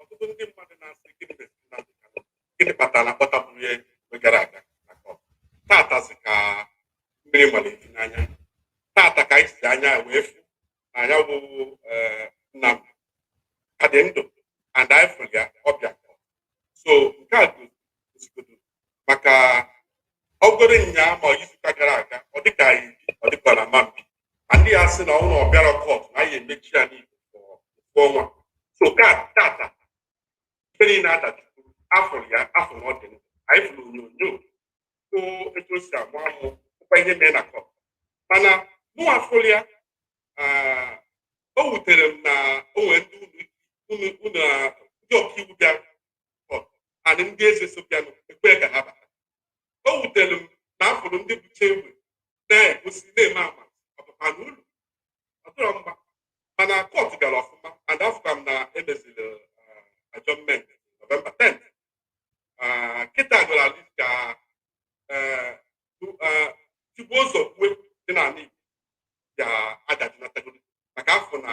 ọtụtụ ndị mmadụ na-asị gịnị meziri Nnamdi Kanu gịnị kpatara akpọtaburọ ya mgbe gara aga na kọt tatazị ka mmiri malite n'anya tata ka anyị ji anya wee fụ na ya bụ Nnamdi ka dị ndụ and anyị fụrụ ya ọ bịa so nke a gosigodo maka ọ bụrụ nya ma izuụka gara aga ọ dịka anyị ọ dịkwa na mambi ndị ya sị na ọ bụrụ ọ bịarọ kọt na a ya-emechi anị igbo ofu ọnwa so ka tata ife niile adajụgo afụ ya afụ na ọ dị ndụ anyị fụrụ onyonyo so etu o si amụ amụ nụkwa ihe mee na kọt mana mụ afụrụ ya ah, o wutere m na o nwere ndị unu unu unu ah, ndị ọkaiwu bịara and ndị eze so bịanụ ekwe ka ha bata o wutere m na afụrụ ndị bucha egbe na-egosi na-eme ama ọpụpa na ụlọ ọ dịrọ mma mana kọt gara ọfụma and afụka m na emeziri ajọment nọvemba 10 Ah, kịta gara at least ka eh, tu- eh, tigbuo zọgbue dị n'ala igbo ya adajụnatagodu maka afọ na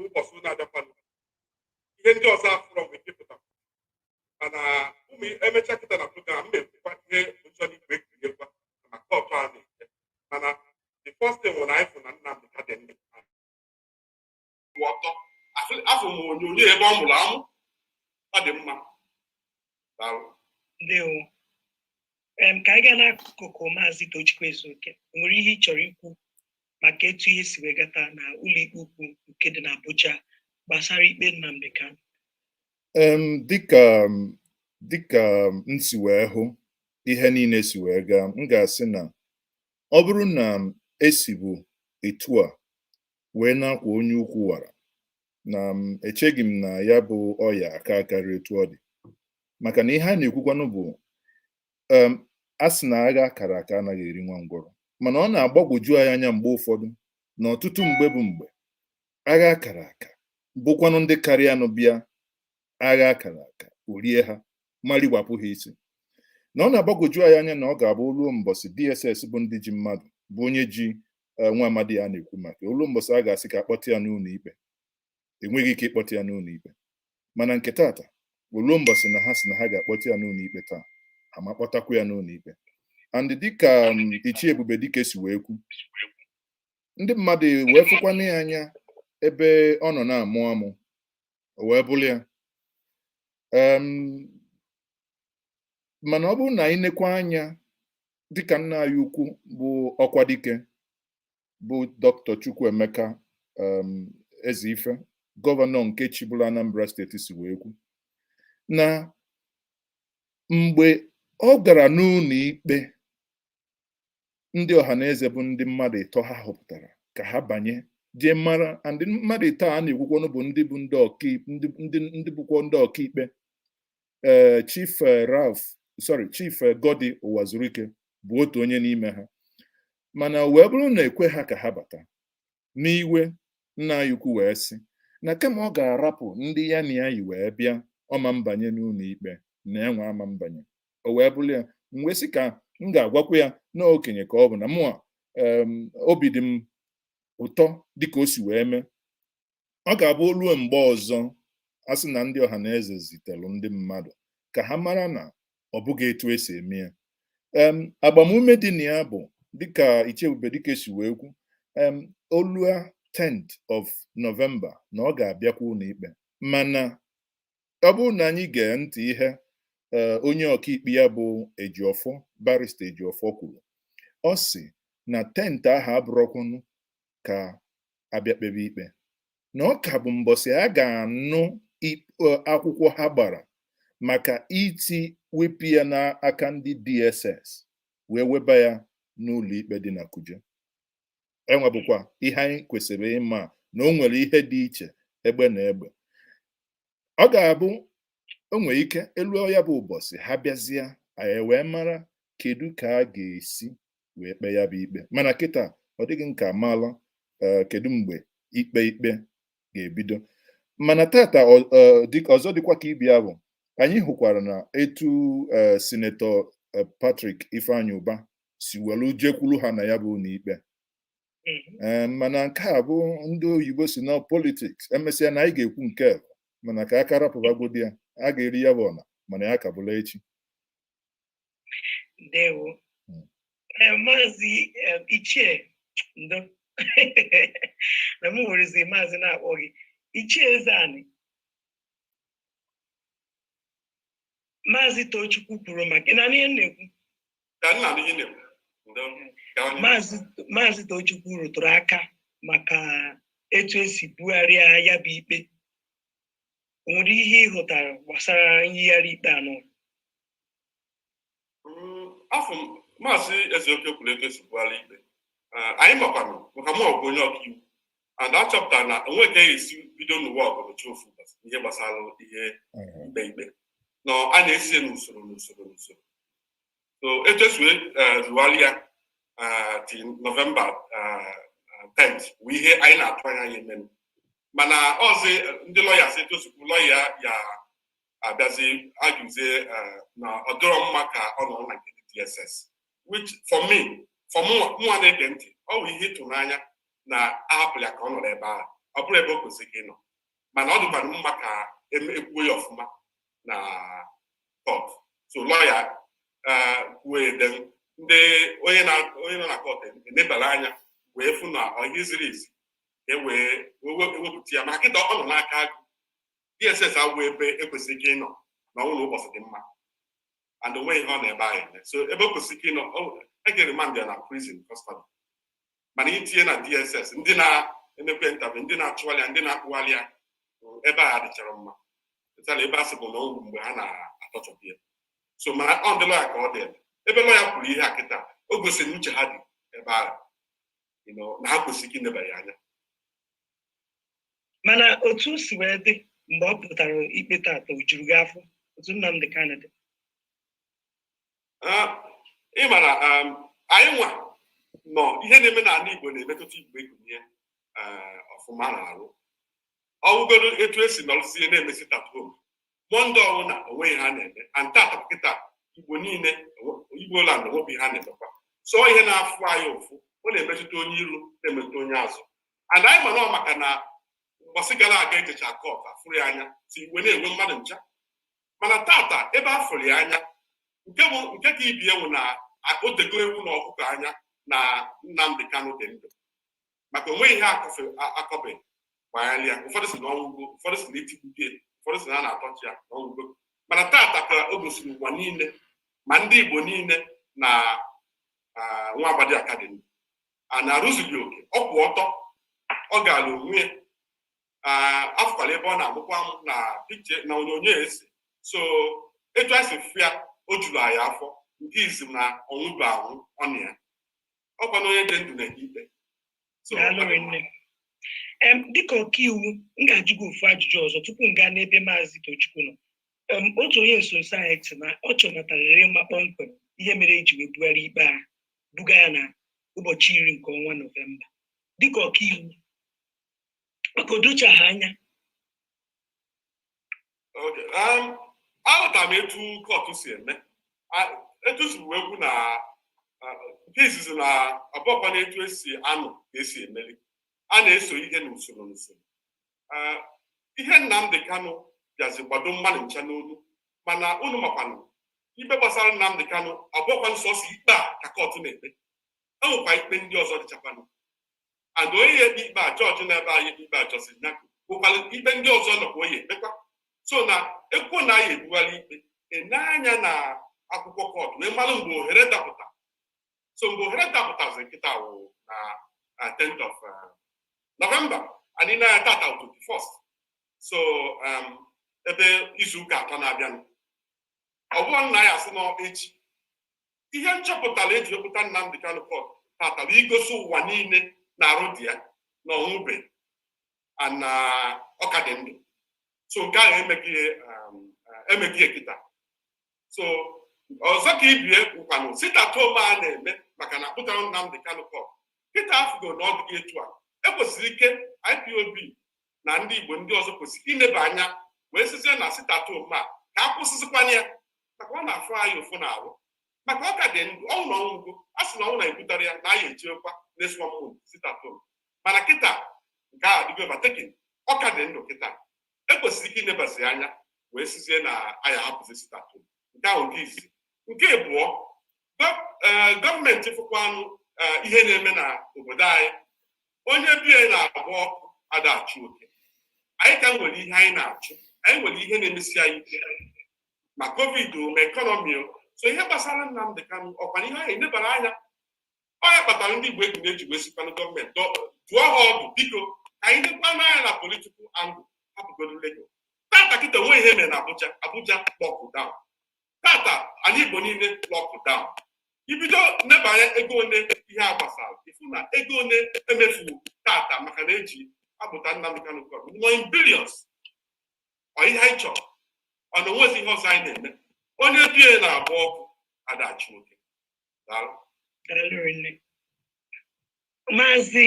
ụbọchị ụlọ adakwanụ ihe ndị ọzọ afụrọ nwere ike ịpụta mana ọ bụrụ emecha kịta na program m na-ekwukwa ihe ụjọ na igwe ekwunyekwa maka kọtụ a na-eche mana the first thing wụ na anyị fụ na Nnamdi ka dị ndụ ọtọ afụ m onyonyo ebe ọ mụrụ amụ ọ dị mma ndewo ka anyị gaa n'akụkụ maazị Tochukwu Ezeoke nwere ihe ị chọrọ ikwu maka etu ihe si wee gaa taa na ụlọikpe ukwu nke dị n'Abuja gbasara ikpe Nnamdi Kanu dịka dịka m si wee hụ ihe niile si wee gaa m ga-asị na ọ bụrụ na esibu etu a wee na-akwa onye ukwu wara na echeghị m na ya bụ ọya aka akarị etu ọ dị maka na ihe a na-ekwukwanụ bụ em, a sị na agha kara aka anaghị eri nwa ngwọrọ mana ọ na-agbagwoju anyị anya mgbe ụfọdụ na ọtụtụ mgbe bụ mgbe agha kara aka bụkwanụ ndị karịanụ bịa agha kara aka o rie ha ma riwapụ ha isi na ọ na-agbagwoju anyị anya na ọ ga-abụ ruo mbọsị DSS bụ ndị ji mmadụ bụ onye ji eh, nwa amadi a na-ekwu maka o lu mbọsị a ga-asị ka akpọta ya n'ụlọ ikpe enweghị ike ịkpọta ya n'ụlọ ikpe mana nke tata o lu mbọsị na ha sị na ha ga-akpọta ya n'ụlọ ikpe taa ha ma kpọtakwa ya n'ụlọ ikpe and dịka um, ichie Ebube Dike si wee kwu ndị mmadụ wee fụkwanụ ya anya ebe ọ nọ na-amụ amụ o wee bụrụ ya Em, mana ọ bụrụ na anyị nekwa anya dịka nna anyị ukwu bụ ọkwa dike bụ dr chukwuemeka um, ezeife gọvanọ nke chịbụla anambra steeti si wee kwu na mgbe ọ gara n'ụlọ ikpe ndị ọha na eze bụ ndị mmadụ ịtọ ha họpụtara ka ha banye jee mara ndị mmadụ ịtọ a na-ekwukwanụ bụ ndị bụ ndị ọkaikpe ndị ndị ndị bụkwa ndị ọkaikpe ee Chief Ralph sorry Chief Goddy Ụwazurike bụ otu onye n'ime ha mana o wee bụrụ na ekwe ha ka ha bata n'iwe nna anyị ukwu wee sị na kama ọ ga-arapụ ndị ya na ya yi wee bịa ọ ma mbanye n'ụlọ ikpe na ya nwa ama mbanye o wee bụrụ ya m wee sị ka m ga-agwakwa ya na okenye ka ọ bụ na mụa obi dị m ụtọ dịka o si wee mee ọ ga-abụ o lue mgbe ọzọ a sị na ndị ọha na eze zitelu ndị mmadụ ka ha mara na ọ bụghị etu esi eme ya em agbamume dị na ya bụ dịka ichie ebube dịka esi wee kwu em o lua 10th of November na ọ ga-abịakwa ụlọ ikpe mana ọ bụrụ na anyị gee ntị ihe ee onye ọkaikpe ya bụ Ejiofor barista Ejiofor kwuru ọ sị na 10th ahụ abụrọkwanụ ka a bịa kpebe ikpe na ọ ka bụ mbọsị a ga-anụ akwụkwọ ha gbara maka iji wepụ ya n'aka ndị DSS wee weba ya n'ụlọ ikpe dị na Kuje enwe bụkwa ihe anyị kwesịrị ịma na o nwere ihe dị iche egbe na egbe ọ ga-abụ o nwere ike e luo ya bụ ụbọchị ha bịazie anyị wee mara kedu ka a ga-esi wee kpee ya bụ ikpe mana kịta ọ dịghị nke a mala eh, kedu mgbe ikpe ikpe ga-ebido mana tata eh, ọzọ dịkwa ka ibe ya bụ anyị hụkwara na etu eh, sinetọ Patrick Ifeanyi Ubah si welu jekwuru ha na ya bụ ụlọikpe mhm. mana nke a bụ ndị oyibo sị na politiks emesịa na anyị ga-ekwu nke a mana ka a ka rapụbagodi ya a ga-eri ya bụ ọna mana ya ka bụla echi ndewo hmm. eh, maazị eh, ichie ndo na m werezi maazị na-akpọ gị ichie eze anyị maazị tochukwu kwuru maka ị na ihe na-ekwu ka nna na ihe na-ekwu ndo ka onye Maazị Maazị Tochukwu rụtụrụ aka maka etu esi bugharịa ya bụ ikpe o nwere ihe ị hụtara gbasara nyigharị ikpe anọ Mm, afọ m maazị ezeoke kwuru etu esi bugharịa ikpe Ah, anyị makwanụ maka mụ ọgụ onye ọkaiwu and a chọpụtara na o nwe ka e si bido n'ụwa ọgụrụ chi ofu ụbọchị ihe gbasara ihe ikpe ikpe na a na-esi ya n'usoro n'usoro n'usoro so echesue eh, bugharị ya eh, till nọvemba 10 eh, bụ ihe anyị na-atụ anya ya emenụ mana ọzi ndị lọya si etosikwu lọya ya abịazi ajụzie na ọ dịrọ mma ka ọ nọ na nke DSS which for me for mụnwa na-ege ntị ọ bụ ihe ịtụnanya na ahapụ ya ka ọ nọrọ ebe ahụ ọ bụrọ ebe o kwesịrị ka ị nọ mana ọ dịkwara mma ka ekwuo ya ọfụma na kọt so lọya eh, kwuo ede ndị onye nọ na kọt enebara anya wee fụ na ọ ihe ziri ezi e wee ewepụta ya maka kịta ọ nọ n'aka agụ dss agwụ ebe ekwesịrị ike ịnọ na ọ wụ na ụbọchị dị mma and onweghị ihe ọ na-eme ebe ahụ so ebe o kwesịrị ike ịnọ e je remand ya na prison custody mana itinye na dss ndị na-emekwa interview ndị na-achụgharị ya ndị na-akpụgharị ya ebe ahụ adịcharọ mma at all ebe a sị bụ na o nwe mgbe ha na-atọchọ ya so ma ọ ndị lọya ka ọ dị ebe ebe lọya kwuru ihe a kịta o gosiri uche ha dị ebe ahụ you know, na ha kwesịrị ka e nebanye anya mana otu o si wee dị mgbe ọ pụtara ikpe tata o juru gị afọ otu Nnamdi Kanu dị ịma na anyị nwa nọ ihe na-eme n'ala Igbo na-emetụta Igbo gụnye ọfụma na arụ ọ wụgodu etu esi nọrụzie na-eme sit at home mọnde ọ wụ na onweghị ihe a na-eme and tata kịta igbo niile igbo land onwebi ihe a na-emekwa so ihe na-afụ anyị ụfụ ọ na-emetụta onye iru na-emetụta onye azụ and anyị ma na maka na mbọsị gara aga ejecha kọt afụrọ ya anya so iwe na-ewe mmadụ ncha mana tata ebe a fụrụ ya anya nke bụ nke ka ibe ya wụ na o dogo ewu na ọkụkọ anya na Nnamdi Kanu dị ndụ maka onweghị ihe akọbeghị banyere ya ụfọdụ sị na ọ nwụgo ụfọdụ sị na etigbugo ya ụfọdụ sị na a na-atọchọ ya na ọ nwụgo mana tata ka o gosiri ụwa niile ma ndị Igbo niile na nwa amadi a ka dị mma na arụ zuru ya oke ọ kwụ ọtọ ọ ga-alụ onwe ya afụkwala ebe ọ na-amụkwa amụ na pikche na onyonyo esi so etu anyị si fụ ya o juru anyị afọ nke izizi na ọ nwụbe anwụ ọ nọ ya ọkwa na onye dị ndụ na ikpe so dịka ọkaiwu m ga-ajụ gị ofu ajụjụ ọzọ tupu m gaa n'ebe maazị Tochukwu nọ otu onye nsonso anyị sị na ọ chọnatarịrị ịma kpọmkwem ihe mere eji wee bugharị ikpe a buga ya na ụbọchị iri nke ọnwa nọvemba dịka ọkaiwu maka o docha ha anya um, aghọtara m etu kọtụ si eme etu si wee kwu na nke izizi na abụọkwanụ etu esi anụ ka esi emeli a na-eso ihe n'usoro n'usoro ihe Nnamdị Kanụ bịazi kpado mmadụ ncha n'olu mana unu makwanụ ikpe gbasara Nnamdị Kanụ abụọkwanụ sọọsọ ikpe a ka kọtụ na-ekpe enwekwa ikpe ndị ọzọ dịchakwanụ and onye ya ekpe ikpe a jọji na-ekpe ikpe a Justice Nyako nwere ikpe ndị ọzọ nọkwa ọ ya-ekpekwa so na ekwuo na a ya-ebugharị ikpe enee anya na akwụkwọ kọtụ wee mara mgbe ohere dapụta so mgbe ohere dapụtazi kịta wụ na na 10th of uh, November anyị nọ tata 21st so um, ebe izuụka atọ na-abịanụ ọ bụrọ na a ya-asị na echi ihe m chọpụtara eji wepụta Nnamdi Kanu kọt tata bụ igosi ụwa niile na arụ dị ya na ọ nwụbe na ọ ka dị ndụ so nke ahụ emego um, eh, kịta so ọzọ ka ibe ya bụkwanụ sit at home a na-eme maka na akpụtara Nnamdi Kanu kọt kịta afụgo na ọ dịghị etu a ekwesiri m ike IPOB na ndị Igbo ndị ọzọ kwesịrị ileba anya wee sizie na sit at home a ka a kwụsịzikwanụ ya maka ọ na-afụ anyị ụfụ na arụ maka ọ ka dị ndụ ọnwụ na ọ nwụgo a sị na ọnwụ na-ebutara ya na anyị echekwa neswa mmụọ sit at home mana kịta nke a dịgo overtaken ọ ka dị ndụ kịta ekwesịrị ike inebazi anya wee sizie na anyị ahapụzi sit at home nke ahụ nke izizi nke abụọ e, gọọmenti fụkwanụ e, ihe na-eme na obodo anyị onye be ya na-agba ọkụ ada achụ oke anyị ka nwere ihe anyị na-achụ anyị nwere ihe na-emesi anyị ike ma covid o ma ekọnọmi o so ihe gbasara Nnamdị Kanụ ọkwa ihe anyị nebara anya ọ ya kpatara ndị Igbo eji na-eji wee sịkwanụ gọọmenti dụọ ha ọdụ biko ka anyị nekwanụ anya na political angle hapụgodo Lagos tata kịta o nwe ihe mere na Abuja Abuja lockdown tata ani Igbo niile lockdown i bido neba anya ego one ihe a gbasara ị fụ na ego one emefuwo tata maka na eje akpụta Nnamdi Kanu kọt ọ nọ in billions ọ ihe anyị chọrọ ọ na o nwezi ihe ọzọ anyị na-eme onye be ya na-agba ọkụ ada achụ oke maazị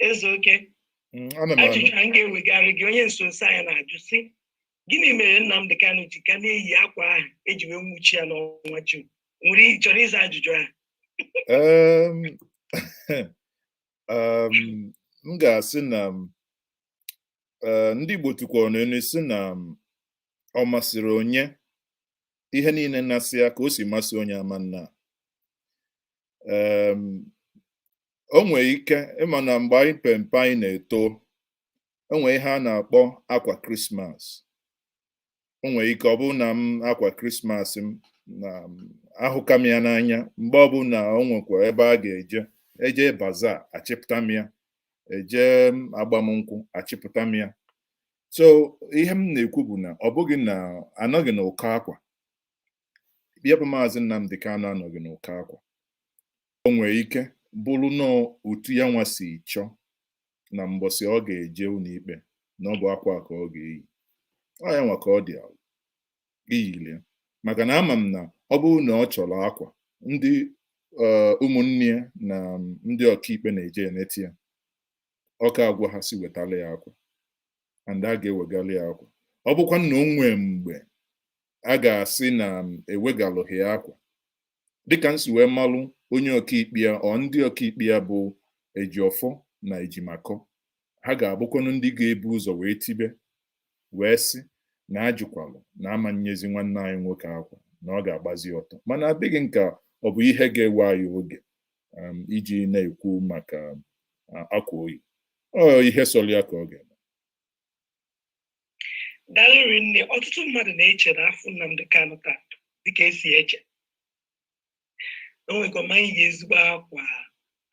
Ezeoke mm, ajụjụ a m ga-ewegara gị onye nso nso anyị na-ajụ sị gịnị mere Nnamdị Kanu ji ka na-eyi akwa ahụ eji wee nwuchie ya n'ọnwa Jun nwere chọrọ ịza ajụjụ ahụ m ga-asị na e, ndị Igbo tụkwara n'ilu sị na ọ masịrị onye ihe niile na-asị ya ka o si masị onye ama m na o nwere ike ịma na mgbe anyị pe mpe anyị na-eto o nwere ihe a na-akpọ akwa krismas o nwere ike ọ bụrụ na m akwa krismas m na ahụka m ya n'anya mgbe ọbụla o nwekwa ebe a ga-eje eje bazaar achịpụta m ya eje agbamnkwụ achịpụta m ya so ihe m na-ekwu bụ na ọ bụghị na anọghị na ụkọ akwa ya bụ maazị Nnamdi Kanu anọghị na ụkọ akwa o nwere ike bụrụ na otu ya nwa si chọọ na mbọsị ọ ga-eje ụlọikpe na ọ bụ akwa a ka ọ ga-eyi ọ ya nwa ka ọ dị ya iyili maka na ama m na ọ bụrụ na ọ chọrọ akwa ndị ụmụnne ya na ndị ọkaikpe na-eje eneta ya ọ ka agwa ha sị wetara ya akwa and a ga-ewegara ya akwa ọ bụkwanụ na o nwee mgbe a ga-asị na ewegalụghị ya akwa dịka m si wee malụ onye ọkaikpe ya ọ ndị ọkaikpe ya bụ Ejiofor na Ejimakor ha ga-abụkwanụ ndị ga-ebu ụzọ wee tibe wee sị na ajụkwalụ na ama nyezi nwanne anyị nwoke akwa na ọ ga-agbazi ọtọ mana adịghị m ka ọ bụ ihe ga-ewe anyị oge um, iji na-ekwu maka uh, akwa o yi ọ ihe sọrọ ya ka ọ ga-eme daalụ rinne ọtụtụ mmadụ na-eche na afụ Nnamdi Kanu taa dịka esi eche o nwekwa ma yi ezigbo akwa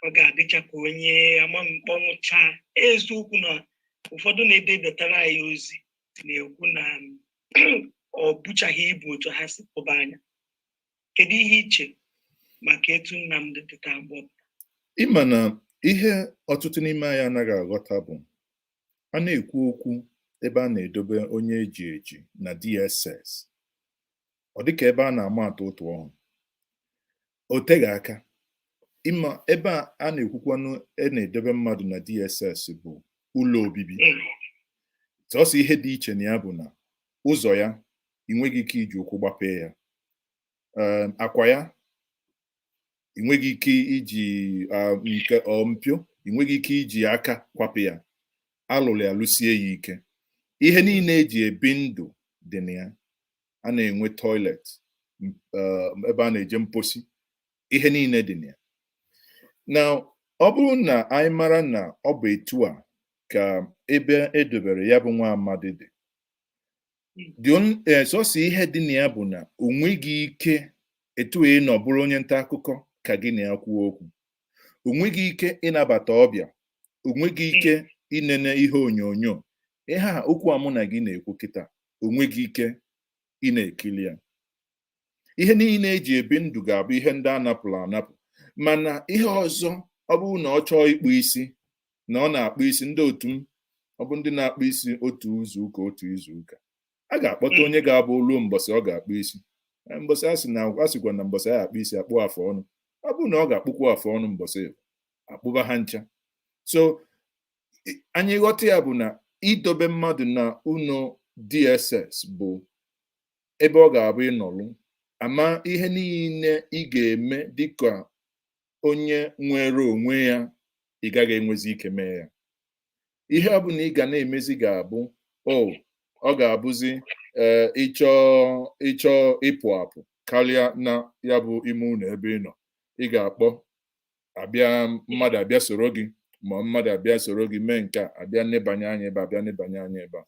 ọ ga-adịcha ka onye ama mkpọnwụcha eziokwu na ụfọdụ na-edebatara anyị ozi na-ekwu na um, o buchaghị ibu otu ha si tụba anya kedu ihe i che maka etu Nnamdi pụta mgbe ọ pụta ị ma na ihe ọtụtụ n'ime anyị anaghị aghọta bụ a na-ekwu okwu ebe a na-edobe onye eji eji na DSS ọ dịka ebe a na-ama atụ ụtụ ọhụrụ o teghị aka ịma ebe a a na-ekwukwanụ a na-edobe mmadụ na DSS bụ ụlọ obibi sọsọ ihe dị iche na ya bụ na ụzọ ya ị nweghị ike iji ụkwụ gbapee ya um, akwa ya ị nweghị ike iji um, nke um, mpio ị nweghị ike iji aka kwapụ ya alụrụ ya lụsie ya ike ihe niile eji ebi ndụ dị na ya a na-enwe toilet ebe a na-eje mposi ihe niile dị na ya na ọ bụrụ na anyị mara na ọ bụ etu a ka ebe edobere ya bụ nwa amadi dị eh, sọsọ ihe dị na ya bụ na o nweghị ike etu ị nọ bụrụ onye nta akụkọ ka gị na ya kwuo okwu o nweghị ike ịnabata ọbịa o nweghị ike inene ihe onyonyo ihe a okwu a mụ na gị na-ekwu kịta o nweghị ike ịna-ekiri ya ihe niile e ji ebi ndụ ga-abụ ihe ndị a napụrụ anapụ mana ihe ọzọ ọ bụrụ na ọ chọọ ịkpụ isi na ọ na-akpụ isi ndị otu ma ọ bụ ndị na-akpụ isi otu izu ụka otu izu ụka a ga-akpọta onye ga-abụ ruo mbọsị ọ ga-akpụ isi mbọsị a sị na a sịkwa na mbọsị a akpụ isi akpụ afọ ọnụ ọ bụrụ na ọ ga-akpụkwu afọ ọnụ mbọsị akpụba ha ncha so anyị ghọta ya bụ na idobe mmadụ na ụlọ DSS bụ ebe ọ ga-abụ ịnọlụ ama ihe niile ị ga-eme dịka onye nwere onwe ya ị gaghị enwezi ike mee ya ihe ọ bụla ị ga na-emezi ga-abụ o ọ ga-abụzi ee ịchọ ịchọ ịpụ apụ karịa na ya bụ ime ụlọ ebe ị nọ ị ga-akpọ abịa mmadụ abịa soro gị ma mmadụ abịa soro gị mee nke a abịa nebanye anya ebe a, abịa nebanye anya ebe a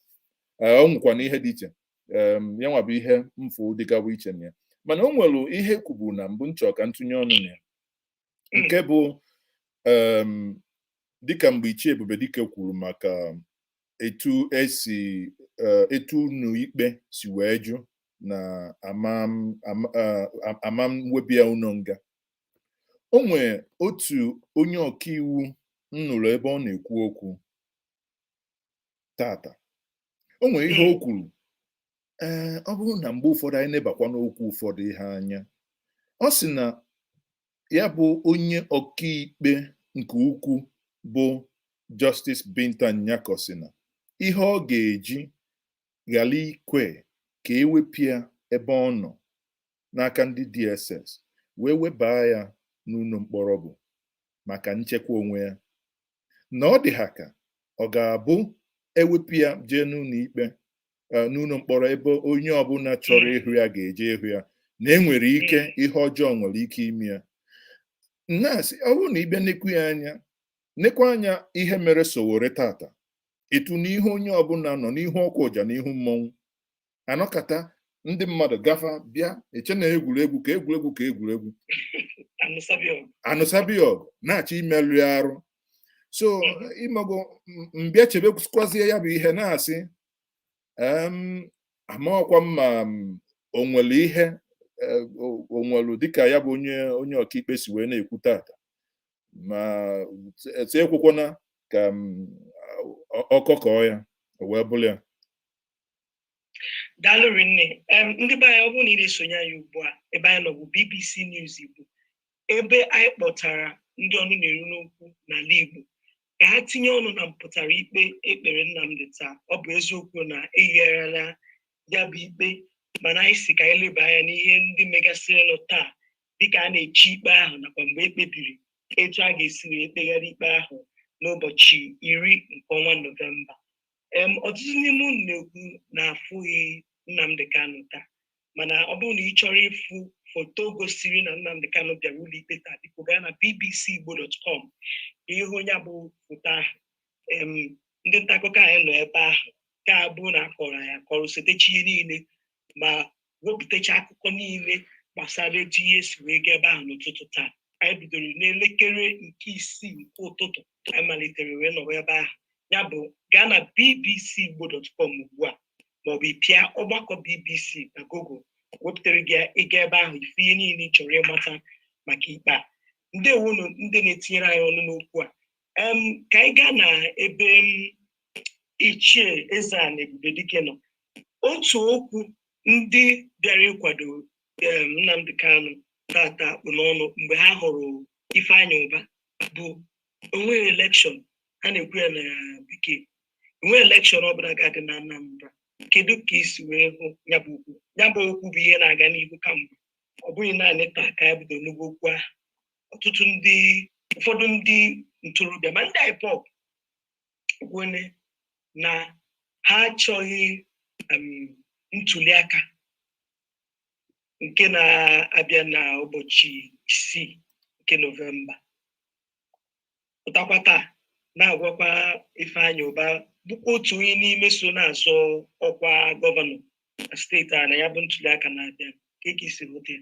Ee, ọ nwekwana ihe dị iche ya nwa bụ ihe m fụ dịgawa iche na ya mana o nwere ihe e kwubu na mbụ m chọ ka m tụnye ọnụ na ya nke bụ dịka mgbe Ichie Ebube Dike kwuru maka etu e si etu ụnọ ikpe si wee jụ na a ma weba ya ụnọ nga o nwee otu onye ọkaiwu m nụrụ ebe ọ na-ekwu okwu tata o nwere ihe o kwuru ee ọ bụrụ na mgbe ụfọdụ anyị nebakwa n'okwu ụfọdụ ihe anya ọ sị na ya bụ onye ọkaikpe nke ukwu bụ Justice Binta Nyako sị na ihe ọ ga-eji ghara ikwe ka e wepụ ya ebe ọ nọ n'aka ndị DSS wee webaa ya n'ụlọ mkpọrọ bụ maka nchekwa onwe ya na ọ dị ha ka ọ ga-abụ e wepụ ya jee n'ụlọ ikpe eh, n'ụlọ mkpọrọ ebe onye ọbụla chọrọ ịhụ ya ga-eje ịhụ ya na e nwere ike ihe ọjọọ nwere ike ime ya m na-asị ọ bụrụ na ị bịa nekwu ya anya nekwa anya ihe mere Sowore tata etu n'ihu onye ọbụla nọ n'ihu ọkwa ụja n'ihu mmọnwụ anọkata ndị mmadụ gafa bịa eche na egwuregwu ka egwuregwu ka egwuregwu a nụsaba ọgụ na-achọ imerụ ya arụ so ị mago m bịa chebekwazie ya bụ ihe na-asị amarọkwa m ma o nwere ihe e, o nwere dịka ya bụ onye onye ọkaikpe si wee na-ekwu tata ma etu ekwekwana ka ọkọkọ ya wee bụrụ ya daalụ rinne ndị be anyị ọ bụrụ na ị na-esonye anyị ugbu a ebe anyị nọ bụ BBC News Igbo ebe anyị kpọtara ndị ọnụ na-eru n'okwu n'ala Igbo ka ha tinye ọnụ na mpụtara ikpe e kpere Nnamdi taa ọ bụ eziokwu na eyigharịala ya bụ ikpe mana anyị sị ka anyị leba anya n'ihe ndị megasịrịnụ taa dịka a na-eche ikpe ahụ nakwa mgbe e kpebiri etu a ga-esi wee kpegharị ikpe ahụ n'ụbọchị iri nke ọnwa nọvemba Em, ọtụtụ n'ime unu na-ekwu na afụghị Nnamdi Kanu taa mana ọ bụrụ na ị chọrọ ịfụ foto gosiri na Nnamdi Kanu bịara ụlọikpe taa biko gaa na bbcigbo.com ka ị hụ ya bụ foto ahụ Em, ndị nta akụkọ anyị nọ ebe ahụ ka abụ na akọrọ ya kọrọ setecha ihe niile ma wepụtacha akụkọ niile gbasara etu ihe si wee gaa ebe ahụ n'ụtụtụ taa anyị bidoro n'elekere nke isii nke ụtụtụ anyị malitere wee nọrọ ebe ahụ ya bụ gaa na bbc igbo dot com ugbu a maọbụ ị pịa ọgbakọ bbc na google wepụtara gị ya ị gaa ebe ahụ ị fụ ihe niile ị chọrọ ịmata maka ikpe a ndewonu ndị na-etinyere anyị ọnụ n'okwu a Em, ka anyị gaa na ebe m ichie Ezeana Ebubedike nọ otu okwu ndị bịara ịkwado em, Nnamdi Kanu tata kpụ n'ọnụ mgbe ha hụrụ Ifeanyi Uba bụ onweghị elekshọn ha na-ekwu ya na bekee enweghị elekshọn ọbụla ga-adị na anambra kedu ka i si wee hụ ya bụ okwu ya bụ okwu bụ ihe na-aga n'ihu kamgbe ọ bụghị naanị taa ka ya bido n'ugbo okwu ahụ ọtụtụ ndị ụfọdụ ndị ntorobịa ma ndị ipop kwuru na ha achọghị ntuliaka nke na-abịa na ụbọchị isii nke nọvemba pụtakwa taa na-agwakwa Ifeanyi Uba bụkwa otu onye n'ime so na-azọ ọkwa gọvanọ na steeti a na ya bụ ntuliaka na-abịa kee ka i si hụta ya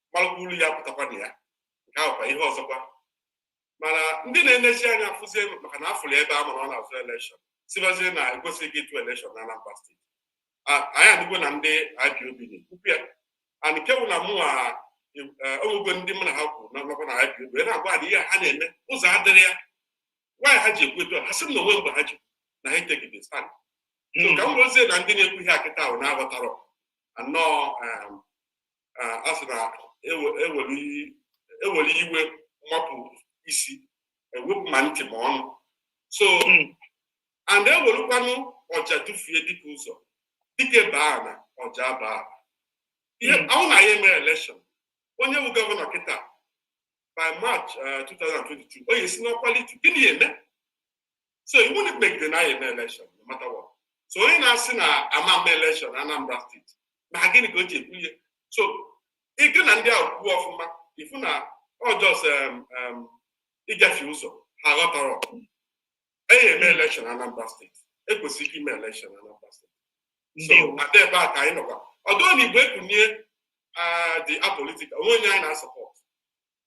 gbalụkwa ulu ya pụtakwa na ya nke ahụ kwa ihe ọzọkwa mana ndị na-enechi anya afụzie maka na afụrụ ebe a mara ọ na-azụ elekshọn sibazie na ekwesịghị ịtụ elekshọn na Anambra steeti anyị adịgo na ndị IPOB na-ekwukwu ya and nke bụ na mụ ewego e, ndị mụ na ha kwuru nakwa na IPOB wee na-agwa na ihe ha na-eme ụzọ adịrị ya nwaanyị ha ji ekwu etu ha sị m na onwe mgbe ha ji na ha etegide stand hmm. ka m rozie na ndị na-ekwu ihe akịta ahụ aghọtarọ anọọ um, a sị na e were iwe mapụ isi e wepụ ma ntị ma ọnụ so hmm. and e werukwanụ ọja dufue dike ụzọ dike baa na ọja baa ihe hmm. ọ bụ na anyị eme elekshọn onye bụ gọvanọ kịta by march 2022 uh, ọ ya-esi n'ọkwa lituo gịnị ya-eme so iwu na ikpegide na anyị eme elekshọn mata wa so onye na-asị na a ma-eme elekshọn Anambra steeti maka gịnị ka o ji ekwu ihe so ịgụ na ndị ahụ kwuo ọfụma ị fụ na ọ just ịgafe ụzọ ha aghọtarọ ihe eji eme elekshọn Anambra steeti ekwesịrị ike ime elekshọn Anambra steeti so Ada ebe a ka anyị nọkwa ọdụ na Igbo Ekunie dị apolitical o nwerọ onye anyị na-asọpọtụ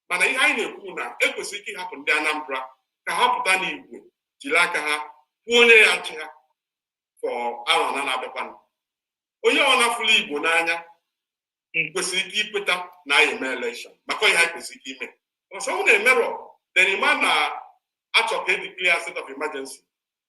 mana ihe anyị na-ekwu na ekwesịrị ike ịhapụ ndị Anambra ka ha pụta n'igwe jiri aka ha kwuo onye ya-achị ha for arọ anọ na-abịakwanụ onye ọbụna fụlụ Igbo n'anya kwesịrị ike ikweta na anyị eme elekshọn maka ọ ihe anyị kwesịrị ike ime a sị na emerọ then ị ma na a chọ ka e declare state of emergency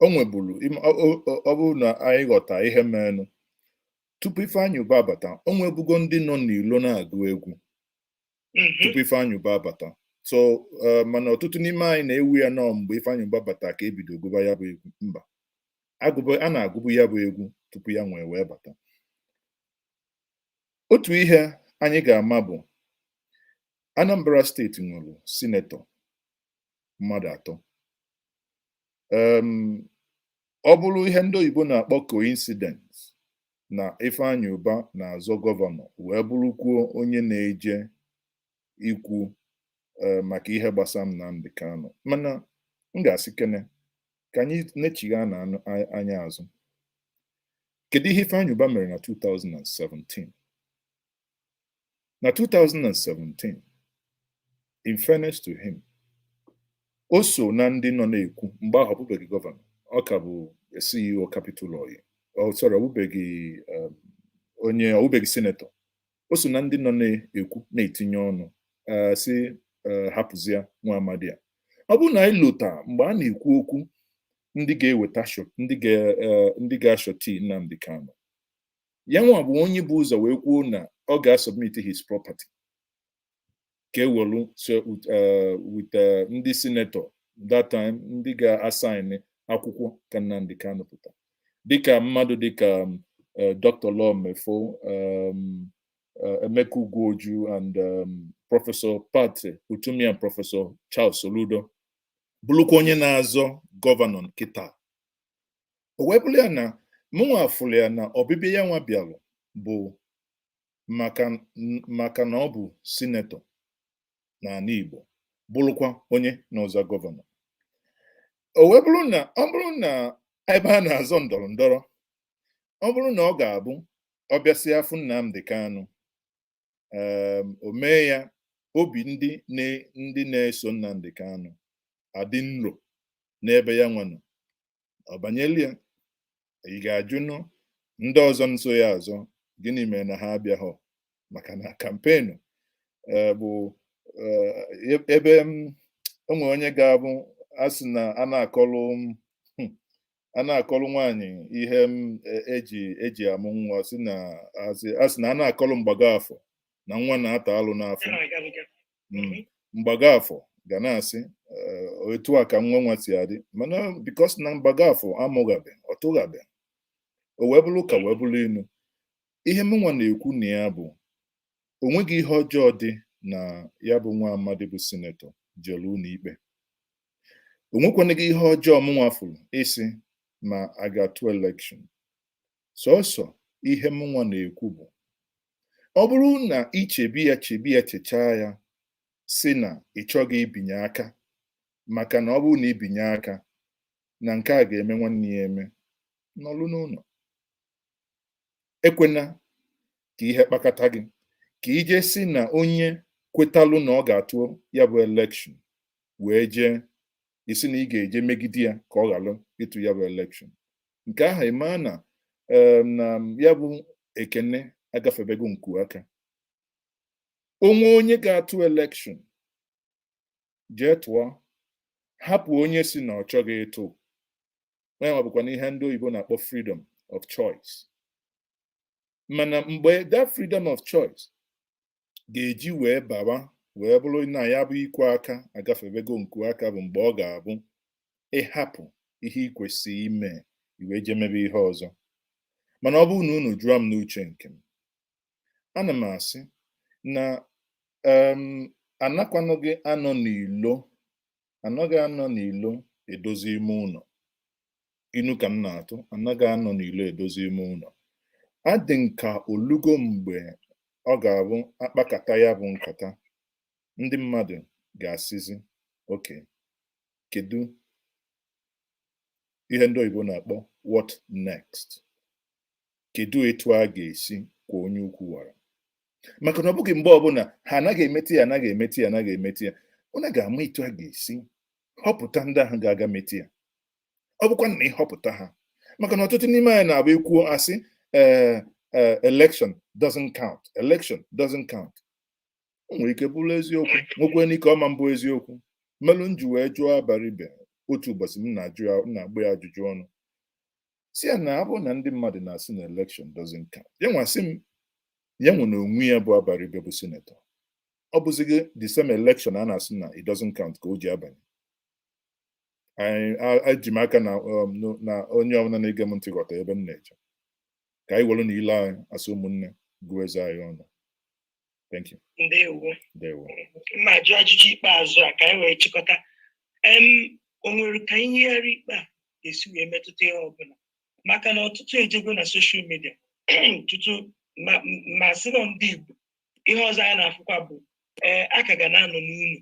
o nwebulu im- ọ ọ- ọ- ọ bụrụ na anyị ghọta ihe merenụ tupu Ifeanyi Uba abata o nwebugo ndị nọ n'ilo na-agụ egwu Mhm. tupu Ifeanyi Uba abata so eh, mana ọtụtụ n'ime anyị na-ewe ya na ọ mgbe Ifeanyi Uba bata ka e bido gụba ya bụ egwu mba agụba a na-agụbu ya bụ egwu tupu ya nwee wee bata otu ihe anyị ga-ama bụ Anambra steeti nwere sinetọ mmadụ atọ ọ bụrụ ihe ndị oyibo na-akpọ coincidence na Ifeanyi Uba na-azọ gọvanọ wee bụrụkwuo onye na-eje ikwu e, maka ihe gbasara Nnamdi Kanu mana m ga-asịkene ka anyị nechigha na anya azụ kedu ihe Ifeanyi Uba mere na 2017 na 2017 in fairness to him o so na ndị nọ na-ekwu mgbe ahụ ọ bụbeghị gọvanọ ọ ka bụ CEO Capital Oil sorry ọ bụbeghị um, onye ọ bụbeghị senetọ o so na ndị nọ na-ekwu na-etinye ọnụ eh, sị eh, hapụzie nwa amadi a ọ bụrụ na anyị lota mgbe a na-ekwu okwu ndị ga-eweta shọti ndị ga eh, ndị ga-ashọti Nnamdi Kanu ya nwa bụ onye bu ụzọ wee kwuo na ọ ga-asọbmit his property ka e welu so with, uh, with uh, ndị sinetọ that time ndị ga-asaịn akwụkwọ ka Nnamdi Kanu pụta dịka mmadụ dịka um, uh, Dr. Law Mefor um, uh, Emeka Ugwu-Oju and um, Prọfesọ Pat Utomi and Prọfesọ Charles Soludo bụrụkwa onye na-azọ gọvanọ kịtaa o wee bụrụ ya na mụnwa fụrụ ya na ọbịbịa ya nwa bịalụ bụ maka maka na ọ bụ sinetọ n'ana Igbo bụrụkwa onye na-azọ gọvanọ o wee bụrụ na ọ bụrụ na ebe a na-azọ ndọrọ ndọrọ ọ bụrụ na ọ ga-abụ ọ bịasịa fụ Nnamdi Kanu um o mee ya obi ndị na ndị na-eso Nnamdi Kanu adị nro n'ebe ya nwa nọ ọ banyelụ ya ị ga-ajụnụ ndị ọzọ nso ya azọ gịnị mere na ha abịaghọ maka na kampenu eh, bụ eh, e- ebe m o nwe onye ga-abụ a sị na a na-akọlụ m, hmm, a na-akọrọ nwaanyị ihe m e- eji eji amụ nwa sị na asị a sị na a na-akọrọ mgbago afọ na nwa na-ata alụ n'afọ Mm. mgbago afọ ga na-asị eh, etu a ka nwa nwa si adị mana bikos na mgbago afọ amụghabe ọ tụghabe o wee bụrụ ụka wee bụrụ inu ihe mụnwa na-ekwu na ya bụ o nweghị ihe ọjọọ dị na ya bụ nwa amadi bụ sinetọ jere ụnọ ikpe o nwekwanịghị ihe ọjọọ mụnwa fụrụ ịsị na a ga-atụ elekshọn sọsọ ihe mụnwa na-ekwu bụ ọ bụrụ na i chebe ya chebe ya chechaa ya sị na ị chọghị ibinye aka maka na ọ bụrụ na i binye aka na nke a ga-eme nwanne ya eme nọlụ n'ụnọ ekwena ka ihe kpakata gị ka i je sị na onye kwetalụ na ọ ga-atụ ya bụ elekshọn wee jee ị sị na ị ga-eje megide ya ka ọ ghalụ ịtụ ya bụ elekshọn nke ahụ ị maa na na ya bụ ekene agafebego nku aka o nwe onye ga-atụ elekshọn jee tụọ hapụ onye sị na ọ chọghị ịtụ ọ nwa bụkwanụ ihe ndị oyibo na-akpọ freedom of choice mana mgbe that freedom of choice ga-eji wee bawa wee bụrụ na ya bụ ikwe aka agafebego nku aka bụ mgbe ọ ga-abụ ị hapụ ihe ị kwesịrị ime i wee jee mebe ihe ọzọ mana ọ bụrụ na unu jụọ m n'uche nke m ana m asị na um anakwanụghị anọ n'ilo anaghị anọ n'ilo edozi ime ụlọ inu ka m na-atụ anaghị anọ n'ilo edozi ime ụlọ ọ dị m ka o lugo mgbe ọ ga-abụ akpakata ya bụ nkata ndị mmadụ ga-asịzi ok kedu ihe ndị oyibo na-akpọ what next kedu etu a ga-esi kwa onye ukwu wara maka na ọ bụghị mgbe ọbụla ha anaghị emeti ya anaghị emeti ya anaghị emeti ya ọ na a ga-ama etu a ga-esi họpụta ndị ahụ ga-aga meti ya ọ bụkwa na ịhọpụta ha maka na ọtụtụ n'ime anyị na-abụ ekwuo asị ee eh, eh, election doesn't count election doesn't count o nwere ike bụrụ eziokwu nwekwa ike ọ ma bụ eziokwu melụ m ji wee jụọ Abaribe otu ụbọchị m na-ajụ ya na-agba ya ajụjụ ọnụ sị ya na ọ bụrụ na ndị mmadụ na-asị na elekshọn doesn't count ya nwa sị m ya nwa n'onwe ya bụ Abaribe bụ sinetọ ọ bụzighị the same election a na-asị na it doesn't count ka o ji abanye eji m aka na um, na onye ọbụla na-ege m ntị ghọta ebe m na-eje ka anyị were na ile anyị asị ụmụnne gụọ eze anyị ọnụ Thank you. Ndewo. Ndewo. M ga-ajụ ajụjụ ikpeazụ a ka anyị wee chịkọta. Em o nwere ka iyigharị ikpe a ga-esi wee metụta ihe ọbụla maka na ọtụtụ ejego na soshal midia tutu ma sị na ndị Igbo ihe ọzọ anyị na-afụkwa bụ ee a ka ga na-anọ n'ụnọ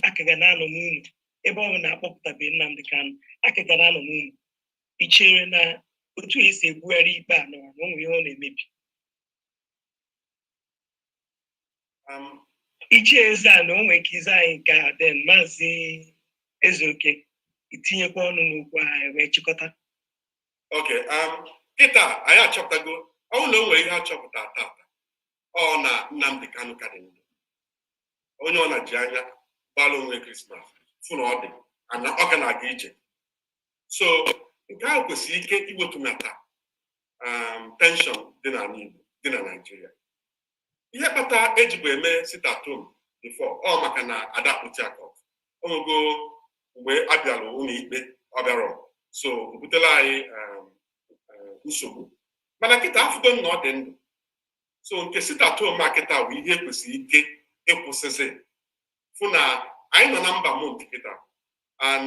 a ka ga na-anọ n'ụnọ ebe ọ bụ na akpọpụtabe Nnamdị Kanụ a ka ga na-anọ n'ụnọ i chere na otu e si ebugharị ikpe a nọwa na o nwe ihe ọ na-emebi um, ichie Ezeana o nwere ike ịza anyị nke a then maazị Ezeoke etinyekwa ọnụ n'okwu anyị wee chịkọta ok um, kịta anyị achọpụtago ọ wụ na o nwere ihe achọpụta tata ọ na Nnamdi Kanu ka dị ndụ onye ọbụna ji anya gbara onwe krismas fụ na ọ dị na ọ ka na-aga ije so nke ahụ kwesịrị ike iwetunata um, tenshọn dị n'ala Igbo dị na Naịjirịa ihe kpata ejibu eme sit at home before ọ maka na ada kpụti akọ ogogo mgbe a bịara ụlọ ikpe ọ bịara so o butela anyị um, um, nsogbu mana kịta afụgo m na ọ dị ndụ so nke sit at home a kịta bụ ihe kwesịrị ike ịkwụsịsị fụ na anyị nọ na ember month kịta and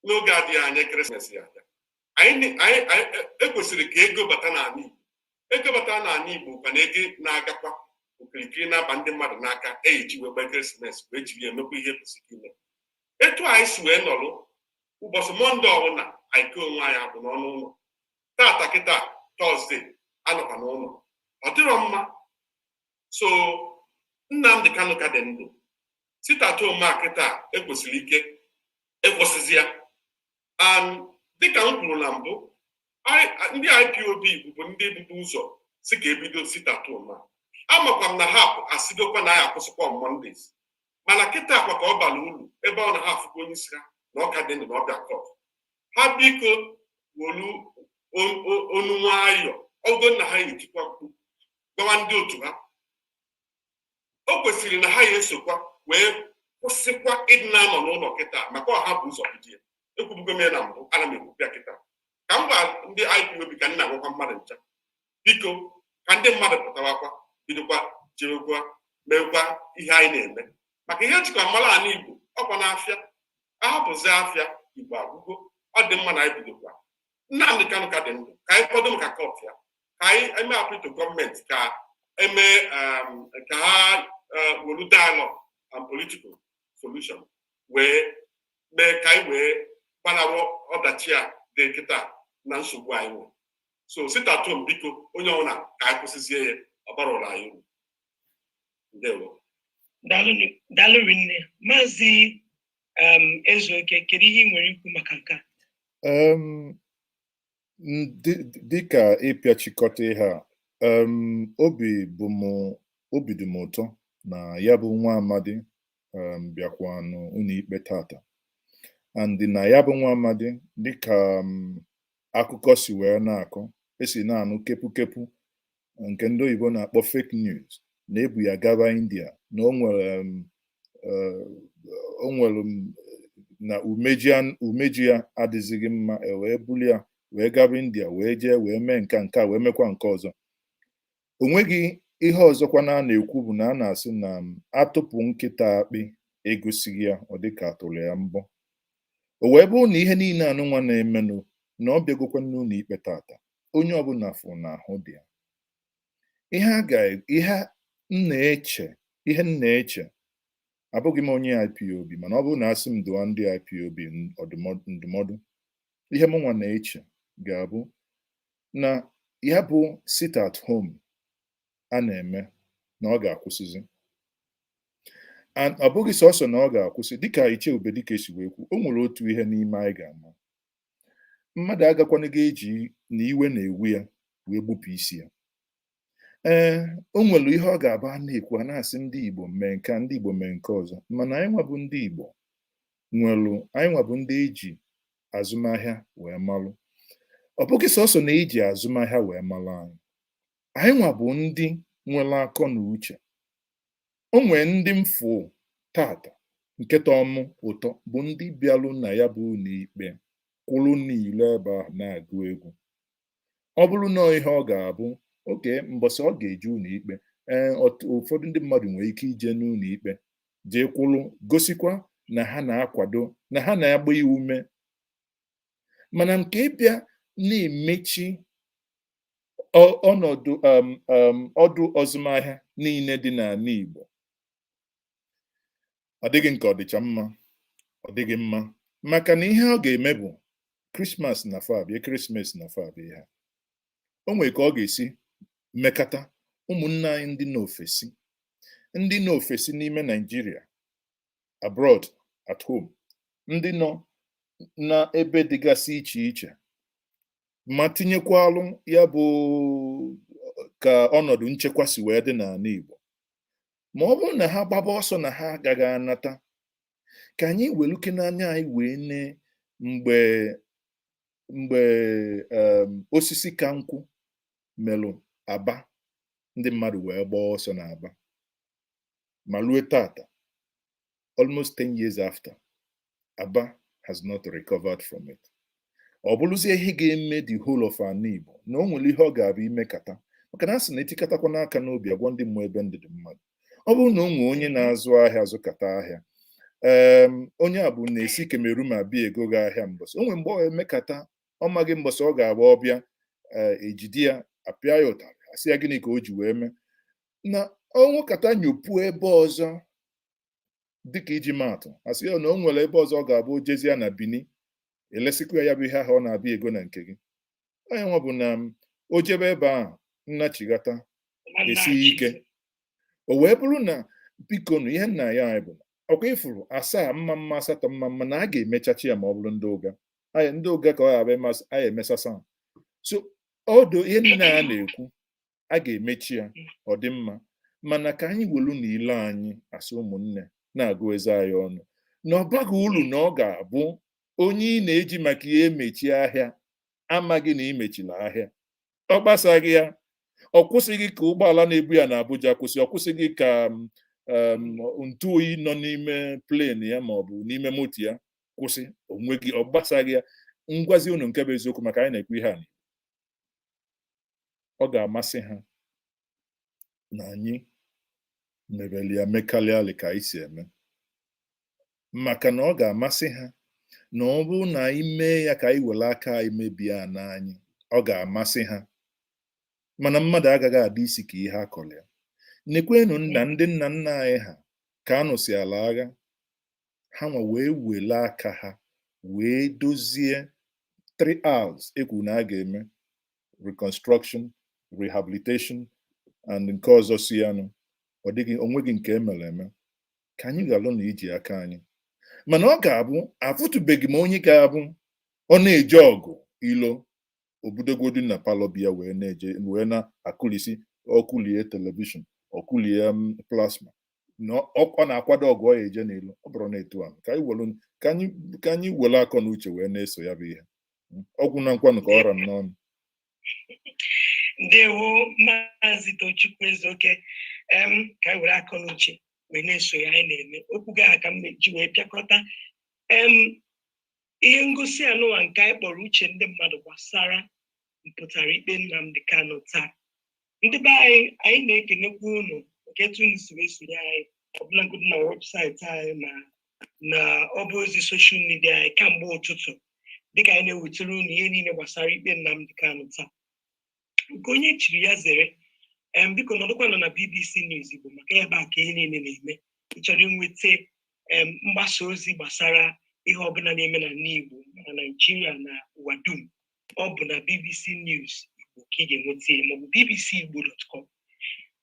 n'oge adịghị anya krismas ya abịa anyị ekwesịrị e ka ego bata n'ala Igbo ego bata n'ala Igbo ka na ego na-agakwa okirikiri na-aba ndị mmadụ n'aka e ji wee gba ekeresimesi wee jiri ya emekwa ihe kwesịrị ime etu anyị si wee nọrụ ụbọchị mọnde ọbụla anyị kee onwe anyị agbụ n'ọnụ ụlọ tata kịta tọzde anọkwa n'ụlọ ọ dịrọ mma so Nnamdi Kanu ka dị ndụ sit at home a kịta ekwesịrị ka akwụsịzi ya um, dịka m kwuru na mbụ ndị IPOB bụbu ndị bu ụzọ sị ka ebido sit at home amakwa m na ha asịgokwa na a ya akwụsịkwa on Mondays mana kịtakwa ka ọ bara ulu ebe ọ na ha afụgo onye isi ha na ọ ka dị ndụ na ọ bịa kọt ha biko welu onu nwayọ ogo na ha ejikwa mkpu gbawa ndị otu ha o kwesịrị na ha ya esokwa wee kwụsịkwa ịdị na-anọ n'ụlọ kịta maka ọ ha bu ụzọ bido ya ekwubugo m ya na mbụ ana m ekwu ya kịta ka m gwa ndị IPOB ka m na-agwakwa mmadụ ncha biko ka ndị mmadụ pụtawakwa bidokwa jekwa meekwa ihe anyị na-eme maka ihe e jikwa mara ala igbo ọkwanụ afịa ahapụzi afịa igbo agwụgo ọ dị mma na anyị bidokwa Nnamdi Kanu ka dị ndụ ka anyị kwado maka kọt ya ka anyị mee appeal to gọọmenti ka eme um, ka ha uh, welu dialogue and political solution wee mee ka anyị wee gbanarị ọdachi a dị kịta na nsogbu anyị nwere so sit at home biko onye ọbụla ka anyị kwụsịzie ya ọ barọlụ anyị uru ndewo daalụ rinne maazị Ezeoke kedu ihe ị nwere ikwu maka nke a dịka ịpịachikọta ihe a obi bụ m obi dị m ụtọ na ya bụ nwa amadi bịakwanụ ụlọikpe tata and na ya bụ nwa amadi dịka akụkọ si wee na-akọ esi na-anụ kepu kepu nke ndị oyibo na-akpọ fake news na ebu ya gaba india na o nwere um, eh, o nwere um, na umeji an- umeji ya adịzighị mma e wee buli ya wee gaba india wee jee wee mee nke a, nke a wee mekwa nke ọzọ o nweghị ihe ọzọkwa na a na-ekwu bụ na a na-asị na um, atụpụ nkịta akpị egosighị ya ọ dịka atụrụ ya mbọ o wee bụrụ na ihe niile anụnwa na-emenụ na ọ bịagokwa n'ụlọ ikpe tata onye ọbụla fụ na ahụ dị ya ihe a ga ihe m na-eche ihe m na-eche abụghị m onye IPOB mana ọ bụrụ na asị m dụọ ndị IPOB ndụmọdụ ihe m nwa na-eche ga-abụ na ya bụ sit at home a na-eme na ọ ga-akwụsịzi ọ bụghị sọsọ na ọ ga-akwụsị dịka Ichie Ubedike si wee kwu o nwere otu ihe n'ime anyị ga-ama mmadụ agakwanaghị eji na iwe na-ewu ya wee gbupụ isi ya ee o nwere ihe ọ ga-abụ a na-ekwu a na-asị ndị Igbo mee nke ndị Igbo mee nke ọzọ mana anyịnwa bụ ndị Igbo nwelụ anyịnwa bụ ndị eji azụmahịa wee malụ ọ bụghị sọsọ na eji azụmahịa wee malụ anyị anyịnwa bụ ndị nwere akọ na uche o nwee ndị m fụ tata nke tọọ m ụtọ bụ ndị bịalụ na ya bụ ụlọikpe kwụrụ n'ilo ebe ahụ na-agụ egwu ọ bụrụ na ihe ọ ga-abụ okay mbọsị ọ ga-eje ụlọikpe ee ụfọdụ ndị mmadụ nwere ike ije n'ụlọikpe jee kwụrụ gosikwa na ha na-akwado na ha na-agba ya ume mana nke ịbịa na-emechi ọnọdụ um, um, ọdụ azụmahịa niile dị n'ala Igbo ọ dịghị nke ọ dịcha mma ọ dịghị mma maka na ihe ọ ga-eme bụ krismas na-abịa ekeresimesi na-abịa ha o nwere ka ọ ga-esi mekata ụmụnne anyị ndị n'ofesi ndị n'ofesi n'ime Naịjirịa abroad at home ndị nọ n'ebe dịgasị iche iche ma tinyekwalụ ya bụ ka ọnọdụ nchekwa si wee dị n'ala Igbo ma ọ bụrụ na ha gbaba ọsọ na ha agaghị anata ka anyị welukene anya anyị wee nee mgbe mgbe um, Osisikankwụ melụ Aba ndị mmadụ wee gbaa ọsọ n'Aba ma lue tata almost 10 years after Aba has not recovered from it ọ bụrụzie ihe ga-eme the whole of ala Igbo na o nwere ihe ọ ga-abụ i mekata maka na a sị na etikatakwana aka n'obi a gwa ndị mmụọ ebe ndụ dị mmadụ ọ bụrụ na o nwee onye na-azụ ahịa zụkata ahịa ee onye a bụ na-esi Cameroon abịa ego gị ahịa mbọsị o nwere mgbe ọ emekata ọ maghị mbọsị ọ ga-abụ ọ bịa ejide ya apịa ya ụtarị asị ya gịnị ka o ji wee mee na o mekata nyopuo ebe ọzọ dịka iji maatụ asị ya na o nwere ebe ọzọ ọ ga-abụ o jezie na Bini elesikwa ya bụ ihe ahụ ọ na-abịa ego na nke gị onye nwa bụ na o jebe ebe a nnachighata esie ike o wee bụrụ na biko na ihe m na-ayọ anyị bụ ọkwa i furu asaa mma mma asatọ mma mma na a ga-emechachi ya ma ọ bụrụ ndị ụga anyị ndị ụga ka ọ ga-abịa masị anyị emesasa so ọdụ ihe niile a na-ekwu a ga-emechi ya ọ dị mma mana ka anyị welu na ile anyị asị ụmụnne na-agụ eze anyị ọnụ na ọ baghị ulu na ọ ga-abụ onye ị na-eji maka ya emechi ahịa amaghị na i mechila ahịa ọ gbasaghị ya ọ kwụsịghị ka ụgbọala na-ebu ya na Abuja kwụsị ọ kwụsịghị ka ntụ oyi nọ n'ime plen ya ma ọ bụ n'ime moto ya kwụsị o nweghị ọ gbasaghị ya m gwazi unu nke bụ eziokwu maka anyị na-ekwu ihe a ọ ga-amasị ha na anyị mebelị ya mekarịalị ka anyị si eme maka na ọ ga-amasị ha na ọ bụrụ na anyị mee ya ka anyị were aka anyị mebie ana anyị ọ ga-amasị ha mana mmadụ agaghị adị isi ka ihe a kọrọ ya nekwenụ na ndị nna nna anyị ha ka a nụsịala agha ha nwa wee wele aka ha wee dozie three R's e kwuru na a ga-eme reconstruction rehabilitation and nke ọzọ si ya nụ ọ dịghị o nweghị nke e mere eme ka anyị ghalụ na iji aka anyị mana ọ ga-abụ afụtụbeghị m onye ga-abụ ọ na-eje ọgụ ilo o bidogodu na palọ be ya wee na-eje wee na-akụlisi ọ kụlie telivishọn ọ kụlie em plasma na ọ ọ na-akwado ọgụ ọ ya-eje n'ilo ọ bụrọ na etu ahụ ka anyị welu ka anyị ka anyị welu akọ na uche wee na-eso ya bụ ihe ọ gwụ na nkwanụ ka ọ ra m n'ọnụ ndewo maazị tochukwu ezeoke em ka anyị were akọ na uche wee na-eso ihe anyị na-eme okwu gị a ka m ji wee pịakọta em ihe ngosi a nụwa nke anyị kpọrọ uche ndị mmadụ gbasara mpụtara ikpe Nnamdi Kanu taa ndị be anyị anyị na-ekenekwa unu nke etu unu si esonye anyị ọbụlagodi na webụsaịtị anyị na na ọba ozi soshal midia anyị kamgbe ụtụtụ dịka anyị na-ewetara unu ihe niile gbasara ikpe Nnamdi Kanu taa nke onye chiri ya zere em biko nọdụkwanụ na bbc news igbo maka ebe a ka ihe niile na-eme ị chọrọ inweta em mgbasa ozi gbasara ihe ọbụla na-eme na ala igbo na naijiria na ụwa dum ọ bụ na bbc news igbo ka ị ga-enweta ya maọbụ bbc igbo dot com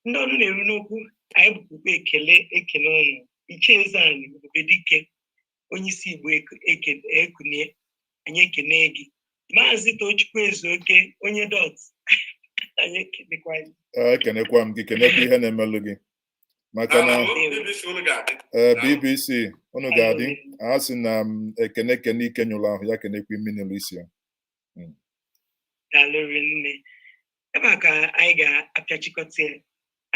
ndị ọnụ na-eru n'okwu anyị bukwa ụkpa ekele ekele unu ichie eze anyị ebube dike onye isi Igbo Ekunie anyị ekene gị maazị Tochukwu Ezeoke onye dọt anyị ekenekwa gị ekenekwa m gị kenekwa ihe na-emelụ gị maka na ee BBC unu ga-adị a sị na e kene kene ike nyụlụ ahụ ya kenekwa imi nụlụ isi ya hmm. daalụ rinne ebe a ka anyị ga-apịachikọta ya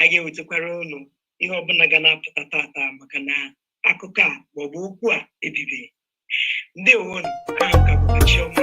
anyị ga-ewetakwara ụnụ ihe ọbụla ga na-apụta tata maka na akụkọ a maọbụ okwu a ebibeghị ngwanụ aha m ka bụ chioma